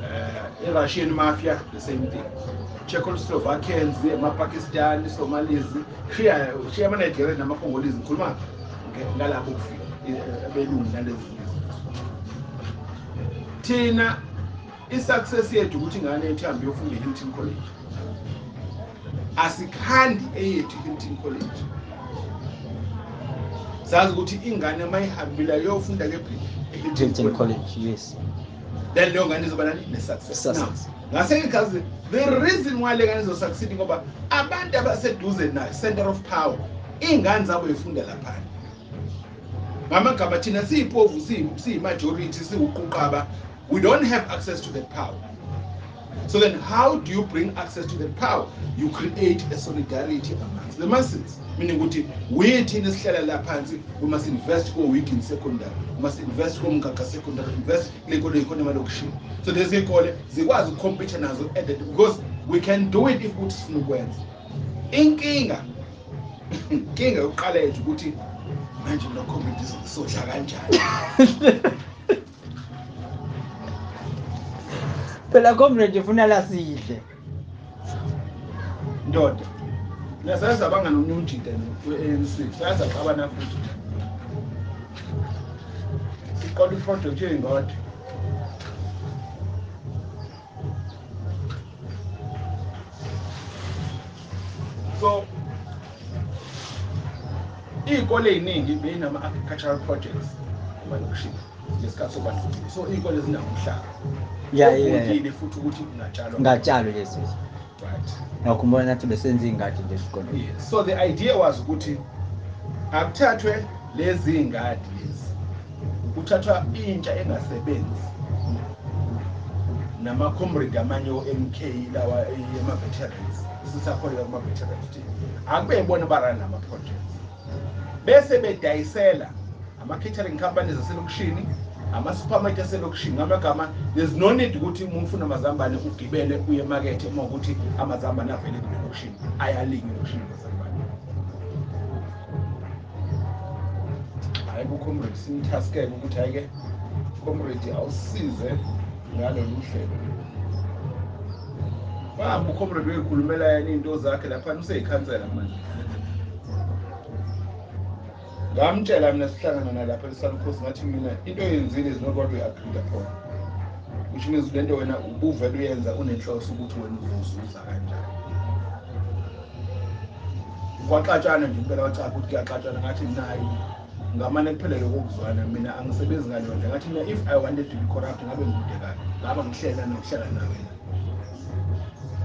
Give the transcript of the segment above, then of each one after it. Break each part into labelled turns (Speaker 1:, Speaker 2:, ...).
Speaker 1: uh, i-russian mafia the same thing czechoslovakians amapakistani somalis shiya shiya amanigeria namacongolese ngikhuluma ngalabo kufika abelungu nalezi thina i-success yethu ukuthi ingane yethu ihambe yofunda e-hilton college asikhandi eyethu i-hilton college sazi ukuthi ingane uma ihambile yofunda kephi e-hilton college yes
Speaker 2: then leyo ngane
Speaker 1: izoba nani ne-success ngase ngikazi the reason why le ngane izosucceed ngoba abantu abaseduze nayo center of power iy'ngane zabo yifunda laphana ngamagama thina siyipovu siyimajority siwuquqaba We don't have access to that power. So then how do you bring access to that power? You create a solidarity amongst the masses. Meaning ukuthi we thina sihlala la phansi we must invest ko week in secondary. We must invest ko mgaga secondary, invest kule kole ikhona imali okushini. So lezi ikole zikwazi ukucompete nazo at that because we can do it if ukuthi sifuna ukwenza. Inkinga inkinga yokuqala yethu ukuthi manje lokho ngithi sodla kanjani
Speaker 2: phela comrade ufuna la sidle
Speaker 1: ndoda nasayazi abangani omunye umjida we-anc sayazi abana futhi siqola iprojekthi yeyingodi so iy'kole ey'ningi beyinama-agricultural projects emalokishini ngesikhathi sobandlulile so iy'kole zinamhlaba yayile
Speaker 2: futhi ukuthi
Speaker 1: kungatshalwa ngatshalwe lezi
Speaker 2: right
Speaker 1: ngakhumbula nathi
Speaker 2: besenza iy'ngadi nje esikoleni so the idea
Speaker 1: was ukuthi akuthathwe lezi y'ngadi lezi kuthathwa intsha engasebenzi namacomrade amanye o-mk lawa ema-veterans sisakholelwa kuma-veterans team akube yibona barani lama-projects bese bedayisela ama-catering companies aselokishini ama-supermarket aselokishini ngamagama there's no need ukuthi uma ufuna amazambane ugibele uye emakethe uma ukuthi amazambane avele kulelokishini ayalinywa elokishini amazambane hayi kucomrade simthaskele ukuthi hhayi-ke comrade awusize ngalolu hlelo bamba ucomrade uyoyikhulumela yena iy'nto zakhe laphana useyikhansela manje ngamtshela mina sihlangana nalapha esalukhosi ngathi mina into eyenzile is not what we agreed upon which means le nto wena ubuvele uyenza unenhloso ukuthi wena uzozuza kanjani kwaxatshana nje impela wacapha ukuthi kuyaxatshana ngathi nayi ngamane kuphelele kokuzwana mina angisebenzi ngayondla ngathi mina if i wanted to be corrupt ngabe ngikude kabi ngaba ngihlela nokuhlala nawe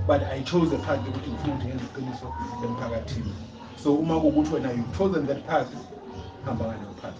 Speaker 1: but i chose the path yokuthi ngifuna ukuthi ngenze iqiniso emphakathini so uma kukuthi wena you've chosen that path hamba ngaleyo path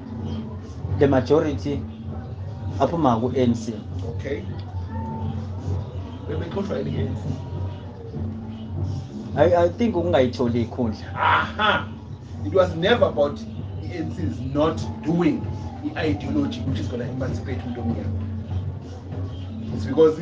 Speaker 2: the majority aphuma ku-anc okay
Speaker 1: bebexoshwa
Speaker 2: i-anc I, I think ukungayitholi ikhundla aha
Speaker 1: it was never about i-anc is not doing i-ideology which is gonna emancipate umuntu omnyama it's because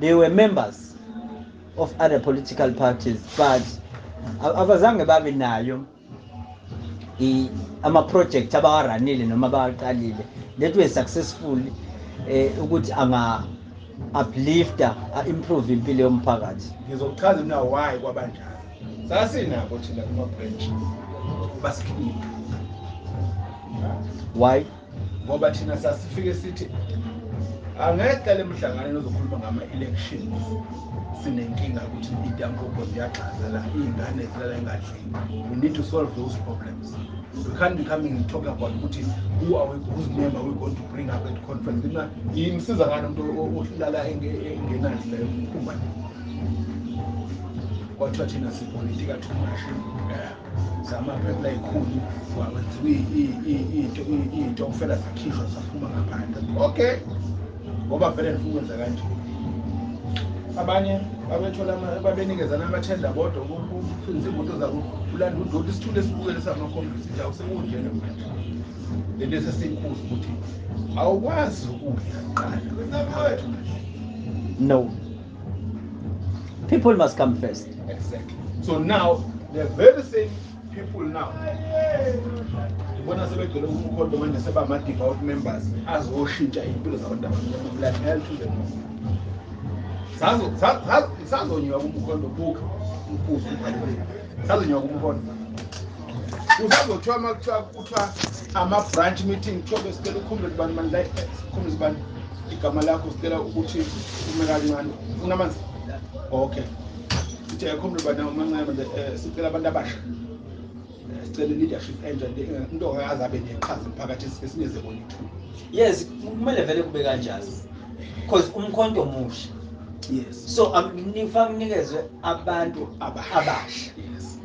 Speaker 2: they were members of other political parties but abazange babe nayo ama-project abawaranile noma abawaqalile that were successful eh ukuthi anga uplifter a-improve impilo yomphakathi ngizokuchaza mina
Speaker 1: why kwabanjalo sasinabo thina kuma-branch basikhipha
Speaker 2: why ngoba thina
Speaker 1: sasifike sithi angeqa le mhlanganweni ozokhuluma ngama-elections sinenkinga ukuthi idampopo ziyagxaza la iy'ngane zilala engadlini we need to solve those problems we can't be coming and talk about ukuthi who are we, whose name are we going to bring up at conference kna yimsiza ngani umuntu olala engenandli layo umphumane kwathiwa thina sipolitika too much zama rap layikhulu wakwenziwa into into kufela sakhishwa saphuma ngaphandle okay ngoba vele ndifuna ukwenza kanje abanye babethola babenikezana amathenda bodwa ukuphindisa imoto zabo ulanda udoti isithule esibukele samakhombisi njawo sekunjena manje le nto esesiyikhuza ukuthi awukwazi ukudla kuqala
Speaker 2: no people must come first exactly so
Speaker 1: now the very same people now ngibona sebegcwele umkhondo manje seba ama-devout members azoshintsha iy'mpilo zabantu abamnyama hell to the most sazonyiwa kumkhondo buka umfuzi ubaluleki sazonyiwa kumkhondo usazothiwa uma kuthiwa kuthiwa ama-branch meeting kuthiwa besicela ukhumbule kubani mani la sikhumbule kubani igama lakho sicela ukuthi ume kancane unamanzi okay ukuthi ayikho mntu bana umancane manje eh, sicela abantu abasha eh, sicela leadership entsha into akaze abe neqhaza emphakathi esineze bona ithuba yes
Speaker 2: kumele vele kube kanjalo because umkhonto omusha yes so
Speaker 1: akufanele
Speaker 2: unikezwe abantu abasha
Speaker 1: yes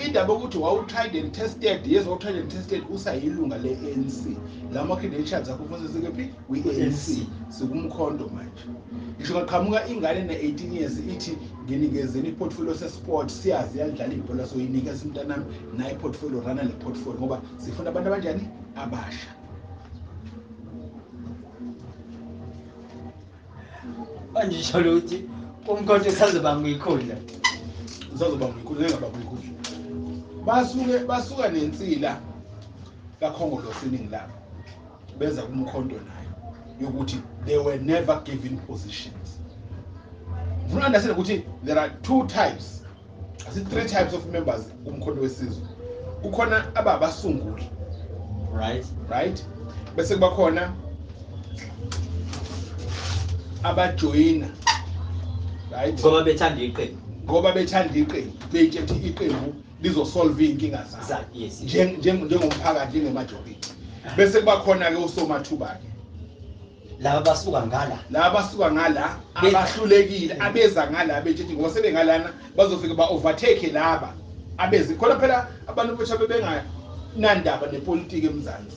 Speaker 1: indaba yokuthi wawutried and tested yes wawutried and tested usayilunga le-anc la ma-credentials akho kufanele sekephi kwi-anc sikumkhonto manje ngisho kaqhamuka ingane ne-18 years ithi nginikezeni iportfolio sesport siyazi yalidlala ibhola so yinike simntanami naye iportfolio rana le portfolio ngoba sifuna abantu abanjani abasha
Speaker 2: manje sholo ukuthi umkhonto usazoba ngikhundla usazoba
Speaker 1: ngikhundla ngaba ngikhundla basuke basuka nensila kakhongolosini ngilapho beza kumkhonto nayo yokuthi they were never given positions ngifuna understand ukuthi there are two types asi three types of members kumkhonto wesizwe kukhona ababasunguli right right bese kuba khona abajoyina right ngoba bethanda
Speaker 2: iqembu ngoba bethanda
Speaker 1: iqembu beyithethe iqembu lizosolve iy'nkinga zabo
Speaker 2: njengomphakathi
Speaker 1: njengemajobiti bese kuba khona-ke usomathuba-ke laba
Speaker 2: basuka ngala laba basuka ngala abahlulekile abeza ngala bethi ngoba sebengalana bazofika ba-overtake laba abezi khona phela abantu bosha bebenganandaba nepolitiki emzansi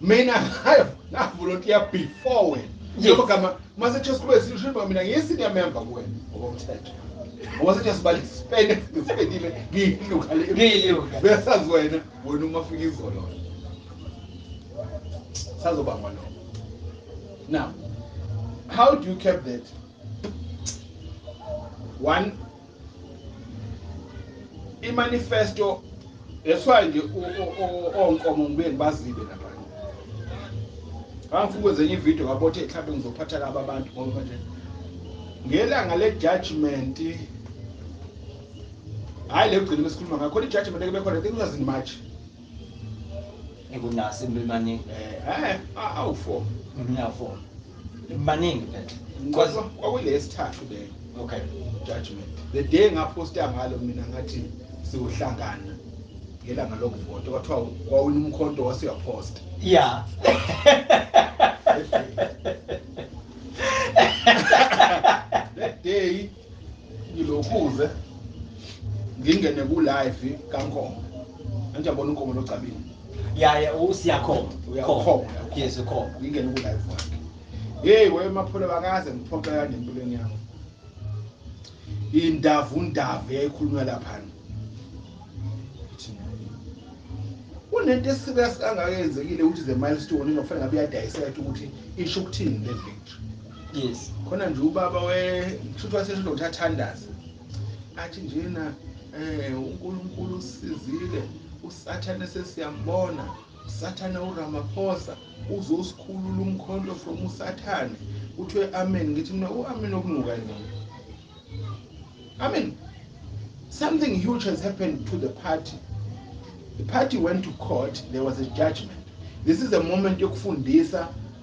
Speaker 2: mina
Speaker 1: hayo ngavolontiya before wena njengoba gama masethiwa siqhube sishimba mina ngiyi-senior member kuwena ngokomthetho ngokomthetho sibali sipende sipendile ngiyilukale besazi wena wena uma fika izolo sazobangwa lo now how do you cap that one imanifesto that's why nje onkomo ngibuye ngibazibe lapha ngangifuna ukwenza enye ividiyo ngabothe mhlawumbe ngizophatha laba abantu ngoba nje ngelanga le-judgment hhayi le kugcina besikhuluma ngakhona i-judgment eke bekhona i think was in march ngikunasi
Speaker 2: imimaningi eh awu
Speaker 1: four mina four
Speaker 2: imimaningi phethe kodwa
Speaker 1: kwakulesithathu le okay
Speaker 2: judgment
Speaker 1: the day ngaposta ngalo mina ngathi siwuhlangana ngelanga lokuvota kwathiwa wawina umkhonto wasuyaphosta ya that day ngilokhuze ngingene ku live kaNkomo manje abona uNkomo locabile ya ya
Speaker 2: usiyakhona uyakhona
Speaker 1: yes ukhona
Speaker 2: ngingene ku live wakhe
Speaker 1: hey we maphole bakaze ngiphoxe kanje empilweni yami indavu ndavu yayikhulunywa lapha kunento esika sikangakenzekile ukuthi the milestone ingafanele ngabe iyadayiseka ukuthi isho ukuthini le victory yes khona
Speaker 2: nje ubaba
Speaker 1: we kushuthi wasesho ukuthi athandaze athi njena eh uNkulunkulu usizile usathane sesiyambona usathane uRamaphosa uzosikhulula umkhonto from usathane kuthiwe amen ngithi mina uamen okunuka yini amen something huge has happened to the party the party went to court there was a judgment this is a moment yokufundisa